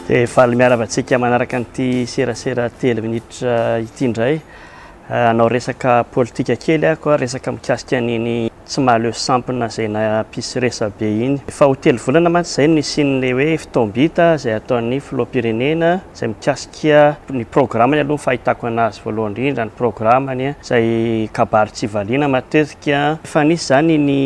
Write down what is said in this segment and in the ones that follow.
Dia faly miarava antsika manaraka an'ity serasera telo minitra ity indray. Anao resaka politika kely ako, resaka mikasika an'iny tsy mahaleo sampona izay nampisy resabe iny. Efa ho telo volana mantsy izay no nisian'ilay hoe fotoam-bita izay ataon'ny filoham-pirenena izay mikasika ny programany aloha ny fahitako anazy voalohany indrindra ny programany izay kabary tsy valiana matetika. Efa nisy izany ny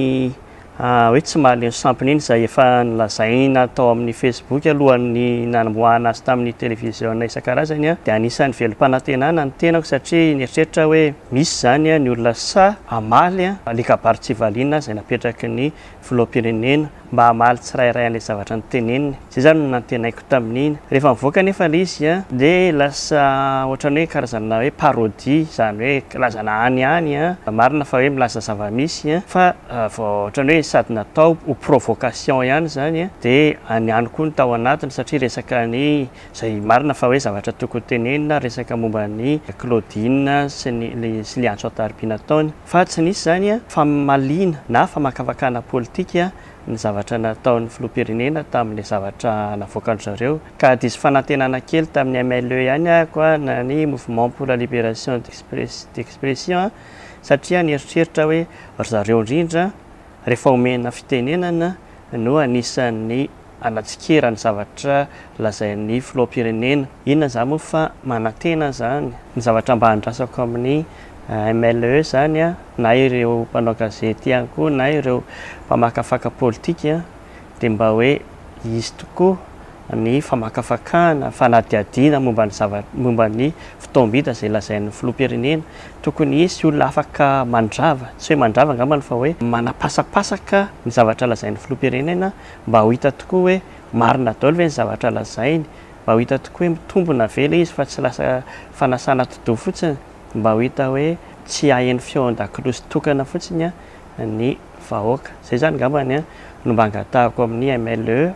hoe tsy mahaleo ny sampiny iny izay efa nolazaina tao amin'ny Facebook alohan'ny nanomboahana azy tamin'ny televiziona isan-karazany dia anisan'ny velom-panantenana ny tenako satria nieritreritra aho hoe misy izany ny olona sahy hamaly ilay kabary tsy valiana izay napetraky ny filoham-pirenena mba hamaly tsirairay an'ilay zavatra noteneniny. Izay izany no nantenaiko tamin'iny. Rehefa nivoaka anefa ilay izy dia lasa ohatran'ny hoe karazana hoe parodie, izany hoe filazana any any, marina fa hoe milaza zava-misy fa vao ohatran'ny hoe sady natao ho provocation ihany izany dia any any koa ny tao anatiny satria resaka ny izay marina fa hoe zavatra tokony ho tenenina, resaka momba an'i Claudine sy ny sy ilay antso an-tarobia nataony fa tsy nisy izany famaliana na famakafakana politika ny zavatra nataon'ny filoham-pirenena tamin'ilay zavatra navoakan-dry zareo ka diso fanantenana kely tamin'ny MLE ihany ako a, na ny Mouvement pour la Libération d'Expression a, satria nieritreritra hoe ry zareo indrindra rehefa omena fitenenana no anisan'ny hanatsikera ny zavatra lazain'ny filoham-pirenena. Inona izany moa fa manantena izany ny zavatra mba andrasako amin'ny MLE izany na ireo mpanao gazety ihany koa na ireo mpamakafaka politika dia mba hoe hisy tokoa ny famakafakana, fanadihadiana momba ny zavatra, momba ny fotoam-bita izay lazain'ny filoham-pirenena. Tokony hisy olona afaka mandrava, tsy hoe mandrava angambany fa hoe manapasapasaka ny zavatra lazain'ny filoham-pirenena mba ho hita tokoa hoe marina daholo ve ny zavatra lazainy, mba ho hita tokoa hoe mitombina ve ilay izy fa tsy lasa fanasana atidoha fotsiny. mba ho hita hoe tsy haheno feo an-dakolosy tokana fotsiny ny vahoaka. Izay izany angamba no mba angatahiko amin'ny MLE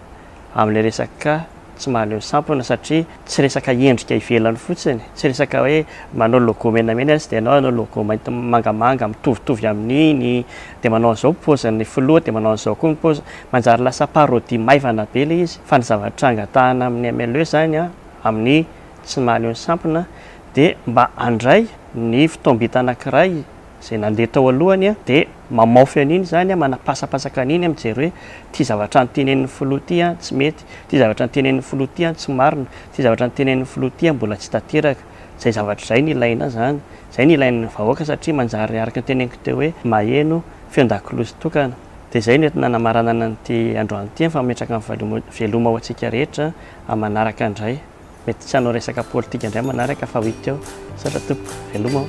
amin'ilay resaka tsy mahaleo sampona satria tsy resaka endrika ivelany fotsiny, tsy resaka hoe manao logo menamena izy dia ianao hanao logo mainty mangamanga mitovitovy amin'iny dia manao an'izao ny paozin'ny filoha dia manao an'izao koa ny paozin'ny, manjary lasa parodie maivana be ilay izy fa ny zavatra angatahana amin'ny MLE izany amin'ny. tsy mahaleo ny sampona dia mba handray ny fotoam-bita anankiray izay nandeha tao alohany dia mamaofy an'iny izany, manapasapasaka an'iny, mijery hoe ity zavatra notenenin'ny filoha ity tsy mety, ity zavatra notenenin'ny filoha ity tsy marina, ity zavatra notenenin'ny filoha ity mbola tsy tanteraka. Izay zavatra izay no ilaina izany, izay no ilain'ny vahoaka satria manjary araka ny teneniko teo hoe maheno feon-dakiloha sy tokana. Dia izay no entina hanamaranana an'ity androany ity fa mametraka ny veloma ho antsika rehetra amin'ny manaraka indray. Mety tsy hanao resaka politika indray manaraka fa week eo. Misaotra tompoko. Veloma o.